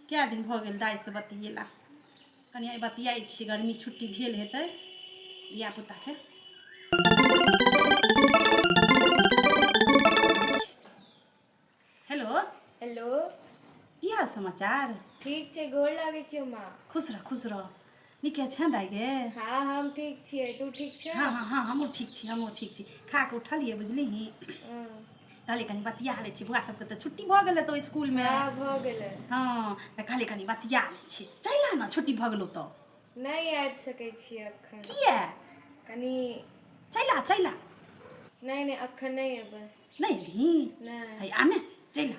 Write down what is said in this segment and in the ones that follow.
कए दिन भऽ गेल दाइसँ बतियेला कनि आइ बतियाइ छी गर्मी छुट्टी भेल हेतै धियापुताके हेलो हेलो की हाल समाचार ठीक छै गोर लागै छियौ माँ खुश रह खुश रह नीके छै दाइ गे हाँ हम ठीक छियै तू ठीक छै हाँ हाँ हाँ हमहूँ ठीक छी हमहूँ ठीक छी खा कऽ उठलियै बुझलिही कहलियै कनि बतिया लै छी बौआ सबके तऽ छुट्टी भऽ गेलै तऽ इसकुलमे हाँ भऽ गेलै हाँ तऽ कहलियै कनि बतिया लै छी चलि आ ने छुट्टी भऽ गेलौ तऽ नहि आबि सकै छी एखन किया कनि चलि आ चलि आ नहि नहि एखन नहि एबै नहि अभी नहि है आने चलि आ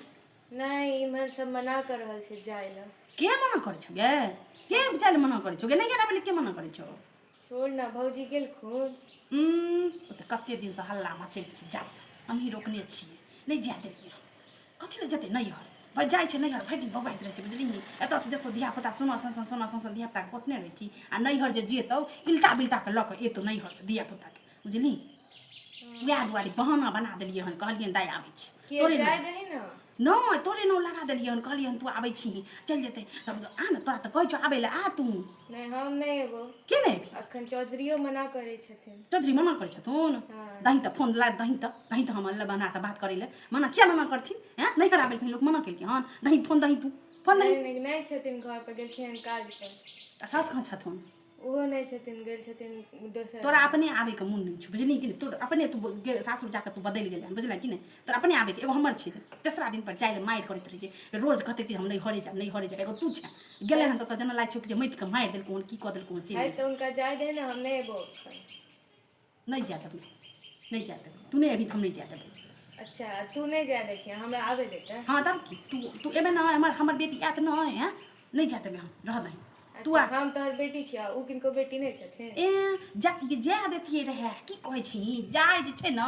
नहि इम्हर सब मना कर रहल छै जाय लए के मना करै छौ गे के जाय लए मना करै छौ गे नहि गेला बोले के मना करै छौ छोड़ ना भौजी गेलखुन उम्म, ओ तऽ कते दिन से हल्ला मचै छै जाय लए हमही रोकने छियै नहि जाय देलियै हन। कथी लए जेतै नैहर भाय जाइ छै नैहर भरि दिन बौआइत रहै छै बुझलिही एतऽसँ देखो धियापुता सोना सन सन सोना सन सन धियापुताके पोसने रहै छी आ नैहर जे जेतौ इल्टा बिल्टाके लऽ कऽ एतौ नैहरसँ धियापुताके बुझली वएह दुआरे बहाना बना देलियै हन कहलियै दाय आबै छी तोरे नहि तोरे नाम लगा देलियै हन कहलियै हन तू आबै छी चलि जेतै तब आ ने तोरा तऽ कहै छौ आबै लए आ तू नहि हम नहि एबो के नहि एबी अखन चौधरीओ मना करै छथिन चौधरी मना करै छथुन दही तऽ फोन ला दही तऽ दही तऽ हम अल्लाह बनासँ बात करै लए मना किया मना करथिन हैं नहि हरा बेलखिन लोक मना केलखिन हन दही फोन दही तू फोन दही नहि छथिन घर पर गेलखिन काज पर सास कहाँ छथुन ओहो नहि छथिन गेल छथिन दोसर तोरा अपने आबैके मोन नहि छौ बुझलिही कि नहि तोर अपने तू सासुर जाकऽ तू बदलि गेलै बुझल कि नहि तोर अपने आबैके एगो हमर छै तेसरा दिनपर जाइ लए मारि करैत रहै छै रोज कहतै कि हम नहि हरे जायब नहि हरे जायब एगो तू छै गेलै हन तऽ जेना लागै छौ कि जे माटिके मारि देलकौ हन की कऽ देलकौ हन से तऽ हुनका जाय दे ने हम नहि एबो नहि जाय देबै नहि जाय देबै तू नहि अभी हम नहि जाय देबै अच्छा तू नहि जाय दै छियै हमरा आबै दे तऽ हँ तब की तू तू एबे नहि हमर हमर बेटी आयत नहि हैं नहि जाय देबै हम रह दही तू अच्छा, आ हम तोहर बेटी छियै ओ किनको बेटी नहि छथिन ए जा जाय देतियै रहए की कहै छी जाय जे छै ने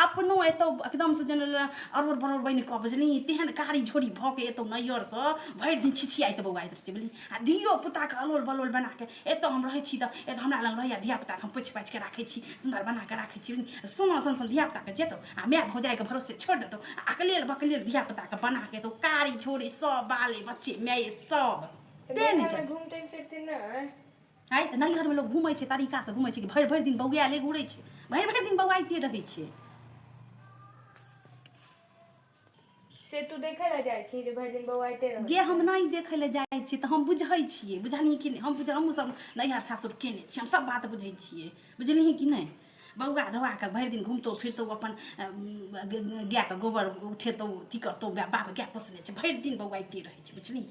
अपनो एतौ एकदमसँ जेना अरोर बरोर बनि कऽ बुझली तेहन कारी झोरी भऽ के एतौ नैहरसँ भरि दिन छिछियाइत बौआइत रहै छै बुझली आ धियो पुताके अलोल बलोल बना कऽ एतऽ हम रहै छी तऽ एतऽ हमरा लग रहैए धियापुताके हम पोछि पाछिके राखै छी सुन्दर बनाकऽ राखै छी सोना सन सन धियापुताके जेतौ आ माय भौजाइके भरोसे छोड़ि देतौ आ अकलेल बकलेल धियापुताके बनाके एतौ कारी छोड़े सब बाले बच्चे माये सब तेँ नहि जाय घूमते फिरते नहि आइ तऽ नैहरमे लोक घूमै छै तरीकासँ घूमै छै कि भरि भरि दिन बौआएले घूरै छै भरि भरि दिन बौआइते रहै छै से तू देखै लए जाइ छी जे भरि दिन बौआ गे हम नहि देखै लए जाइ छियै तऽ हम बुझै छियै बुझलियै कि नहि हम बुझ हमहूँ सब नैहर सासुर केने छियै हम सब बात बुझै छियै बुझलियै कि नहि बौआ धौआ कऽ भरि दिन घुमतौ फिरतौ अपन गायके गोबर उठेतौ अथी करतौ बाप गाय पोसने छै भरि दिन बौआ एतै रहै छै बुझलियै